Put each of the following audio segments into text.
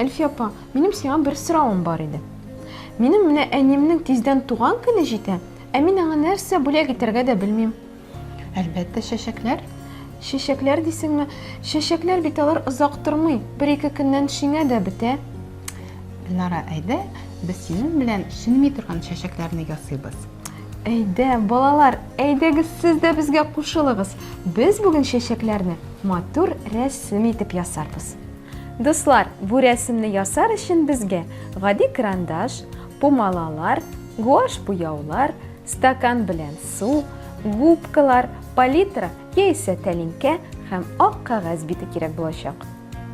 Әлфия апа, минем сиңа бер соравым бар иде. Минем менә әниемнең тиздән туган көне җитә, ә мин аңа нәрсә бүләк итәргә дә белмим. Әлбәттә, чәчәкләр. Чәчәкләр дисеңме? Чәчәкләр бит алар озак тормый. Бер-ике көннән шиңә дә бетә. Лара, әйдә, без синең белән шиңми торган чәчәкләрне ясыйбыз. Әйдә, балалар, әйдәгез сез дә безгә кушылыгыз. Без бүген чәчәкләрне матур рәсем итеп ясарбыз. Дуслар, бу рәсемне ясар өчен безгә гади карандаш, пумалалар, гуаш буяулар, Стакан белән су, губкалар, палитра яисә тәлинкә һәм ак кәгазь бите кирәк булачак.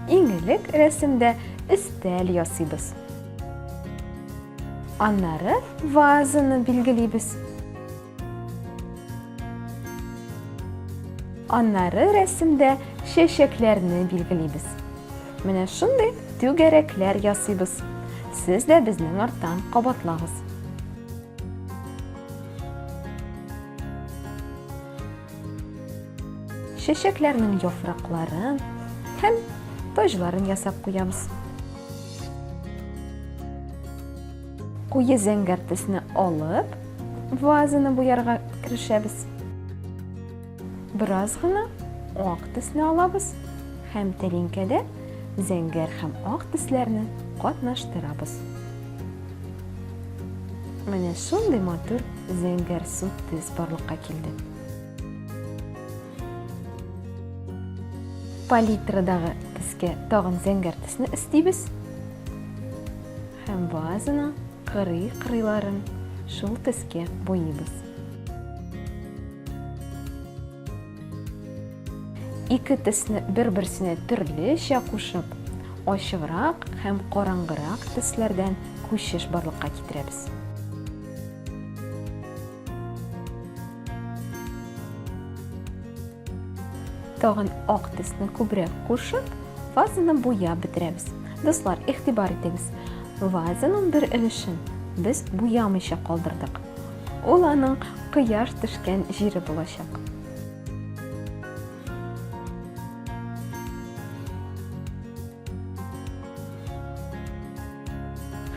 Иң элек рәсемдә өстәл ясыйбыз. Аннары вазаны билгелибез. Аннары рәсемдә чәчәкләрне билгелибез. Менә шундый түгәрәкләр ясыйбыз. Сез дә безнең арттан кабатлагыз. чәчәкләрнең яфракларын һәм таҗларын ясап куябыз. Куе зәңгәр төсне алып, вазаны буярга керешәбез. Бераз гына ак төсне алабыз һәм тәлинкәдә зәңгәр һәм ак төсләрне катнаштырабыз. Менә шундый матур зәңгәр сут төс барлыкка килде. Палитрадагы төскә тагын зәңгәр төсне өстибез. Һәм вазаны кырый-кырыйларын шул төскә буйыйбыз. Ике төсне бер-берсенә төрлечә кушып, ачыграк һәм караңгырак төсләрдән күчеш барлыкка китерәбез. Тагын ак төсне күбрәк кушып, вазаны буяп бетерәбез. Дуслар, игътибар итегез. Вазаның бер өлешен без буямыйча калдырдык. Ул аның кояш төшкән җире булачак.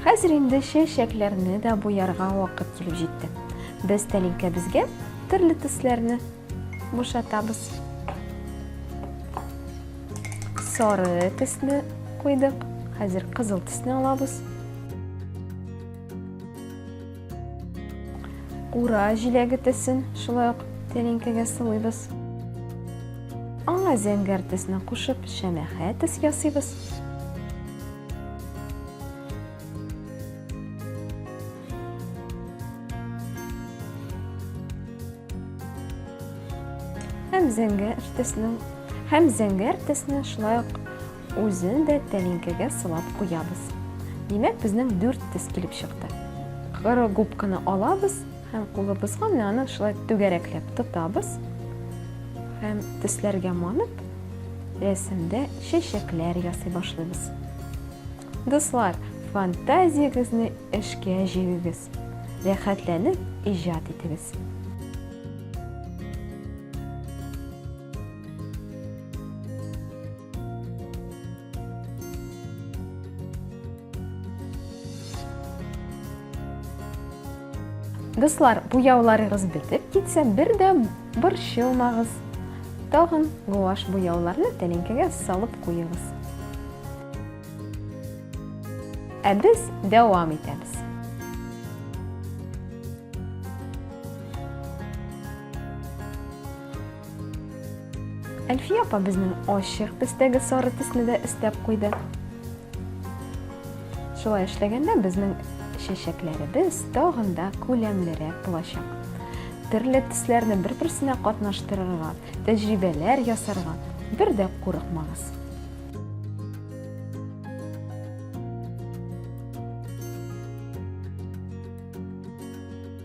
Хәзер инде чәчәкләрне дә буярга вакыт килеп җитте. Без тәлинкәбезгә төрле төсләрне бушатабыз. Сары төсне куйдык. Хәзер кызыл төсне алабыз. Кура җиләге төсен шулай ук тәлинкәгә сылыйбыз. Аңа зәңгәр төсне кушып, шәмәхә төс ясыйбыз. Һәм зәңгәр төсне, һәм зәңгәр төсне шулай ук Үзен дә тәлинкәгә сылап куябыз. Димәк, безнең дүрт тез килеп чыкты. Коры губканы алабыз һәм кулыбызга менә аны шулай түгәрәкләп тотабыз һәм төсләргә манып, рәсемдә чәчәкләр ясый башлыйбыз. Дуслар, фантазиягезне эшкә җигегез, рәхәтләнеп иҗат итегез. Дуслар, буяуларыгыз бетеп китсә, бер дә борчылмагыз. Тагын гуаш буяуларны тәлинкәгә салып куегыз. Ә без дәвам итәбез. Әлфия апа безнең ачык төстәге сары төсне дә өстәп куйды. Шулай эшләгәндә безнең чәчәкләребез тагын да күләмлерәк булачак. Төрле төсләрне бер-берсенә катнаштырырга, тәҗрибәләр ясарга бер дә курыкмагыз.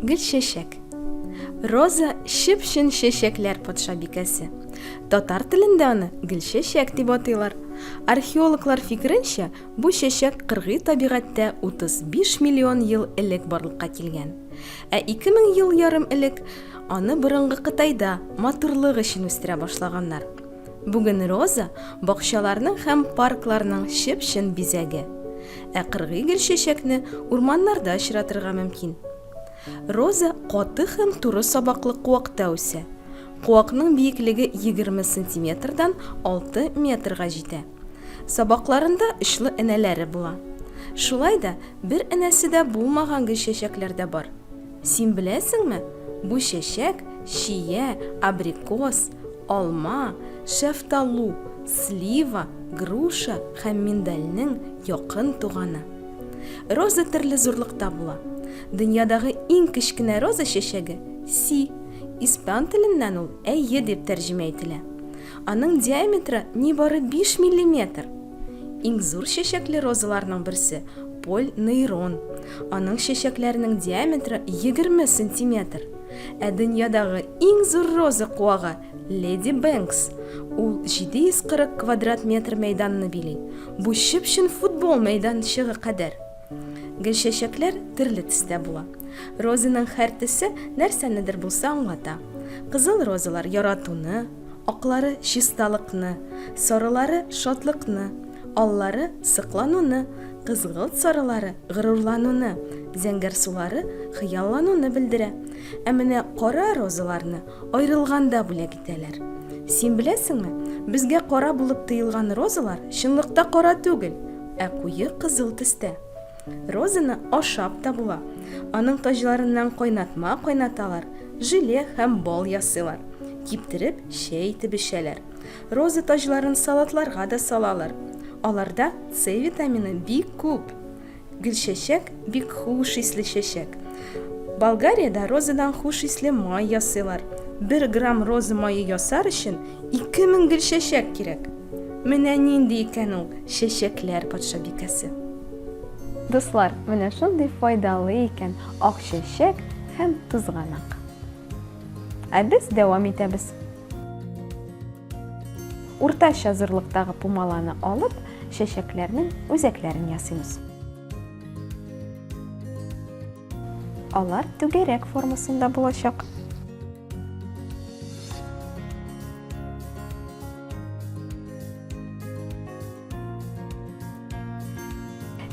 Гөлчәчәк. Роза чып-чын чәчәкләр патшабикәсе. Татар телендә аны гөлчәчәк дип атыйлар. Археологлар фикеренчә, бу чәчәк кыргый табигатьтә 35 миллион ел элек барлыкка килгән. Ә 2000 ел ярым элек аны борынгы Кытайда матурлык өчен үстерә башлаганнар. Бүген роза, бакчаларның һәм паркларның чып-чын бизәге. Ә кыргый гөлчәчәкне урманнарда очратырга мөмкин. Роза каты һәм туры сабаклы куакта үсә. Куакның биеклеге егерме сантиметрдан алты метрга җитә. Сабакларында очлы энәләре була. Шулай да бер энәсе дә булмаган гөлчәчәкләр дә бар. Син беләсеңме, бу чәчәк чия, абрикос, алма, шәфталу, слива, груша һәм миндальнең якын туганы. Роза төрле зурлыкта була. Дөньядагы иң кечкенә роза чәчәге, си, испан теленнән ул әйе дип тәрҗемә ителә. Аның диаметры нибары биш миллиметр. Иң зур чәчәкле розаларның берсе, Поль Нейрон. Аның чәчәкләренең диаметры 20 сантиметр. Ә дөньядагы иң зур роза куагы, Леди Бенкс. Ул 740 квадрат метр мәйданны били. Бу чып-чын футбол мәйданчыгы кадәр. Гөлчәчәкләр төрле төстә була. Розаның һәр төсе нәрсәнедер булса аңлата. Кызыл розалар яратуны, Аклары чисталыкны, сорылары шатлыкны, аллары соклануны, кызгылт сарылары горурлануны, зәңгәр сулары хыяллануны белдерә. Ә менә кара розаларны аерылганда бүләк итәләр. Син беләсеңме, безгә кара булып тоелган розалар чынлыкта кара түгел, ә куе кызыл төстә. Розаны ашап та була. Аның таҗларыннан кайнатма кайнаталар, желе һәм бал ясыйлар. Киптереп, чәй итеп эчәләр. Роза таҗларын салатларга да салалар. Аларда С витамины бик күп. Гөлчәчәк бик хуш исле чәчәк. Болгариядә розадан хуш исле май ясыйлар. Бер грамм роза мае ясар өчен 2000 гөлчәчәк кирәк. Менә нинди икән ул чәчәкләр патшабикәсе! Дуслар, менә шундый файдалы икән ак чәчәк һәм тузганак. Ә без дәвам итәбез. Уртача зурлыктагы пумаланы алып, чәчәкләрнең үзәкләрен ясыймыз. Алар түгәрәк формасында булачак.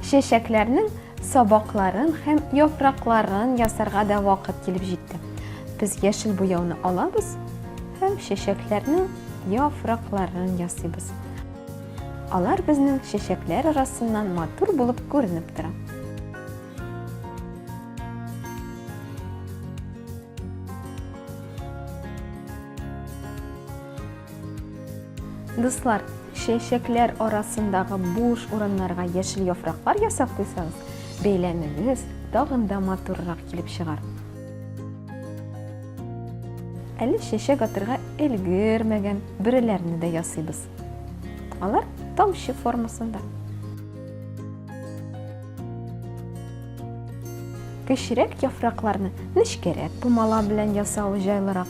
Чәчәкләрнең сабакларын һәм яфракларын ясарга да вакыт килеп җитте. Без яшел буяуны алабыз һәм чәчәкләрнең яфракларын ясыйбыз. Алар безнең чәчәкләр арасыннан матур булып күренеп тора. Дуслар, чәчәкләр арасындагы буш урыннарга яшел яфраклар ясап куйсагыз, бәйләмегез тагын да матуррак килеп чыгар. Әле чәчәк атырга өлгермәгән бөреләрне дә ясыйбыз. Алар тамчы формасында. Кечерәк яфракларны нечкәрәк пумала белән ясау җайлырак.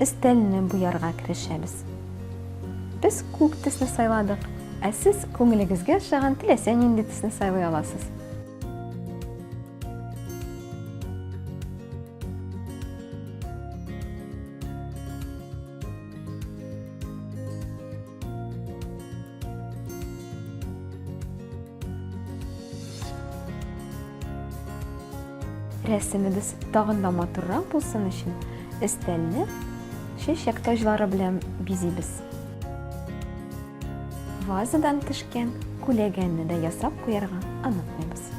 Өстәлне буярга керешәбез. Без күк төсне сайладык, ә сез күңелегезгә ошаган теләсә нинди төсне сайлый аласыз. Рәсемебез тагын да матуррак булсын өчен, өстәлне чәчәк таҗлары белән бизибез. Вазадан төшкән күләгәнне дә ясап куярга онытмыйбыз.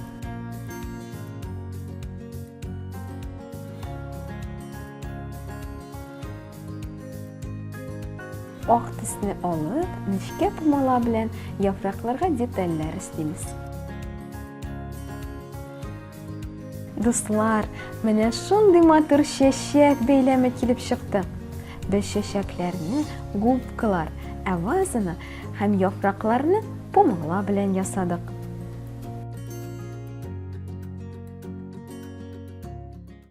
Ак төсне алып, нечкә пумала белән яфракларга детальләр өстимез. Дуслар, менә шундый матур чәчәк бәйләме килеп чыкты. Без чәчәкләрне губкалар, ә вазаны һәм яфракларны пумала белән ясадык.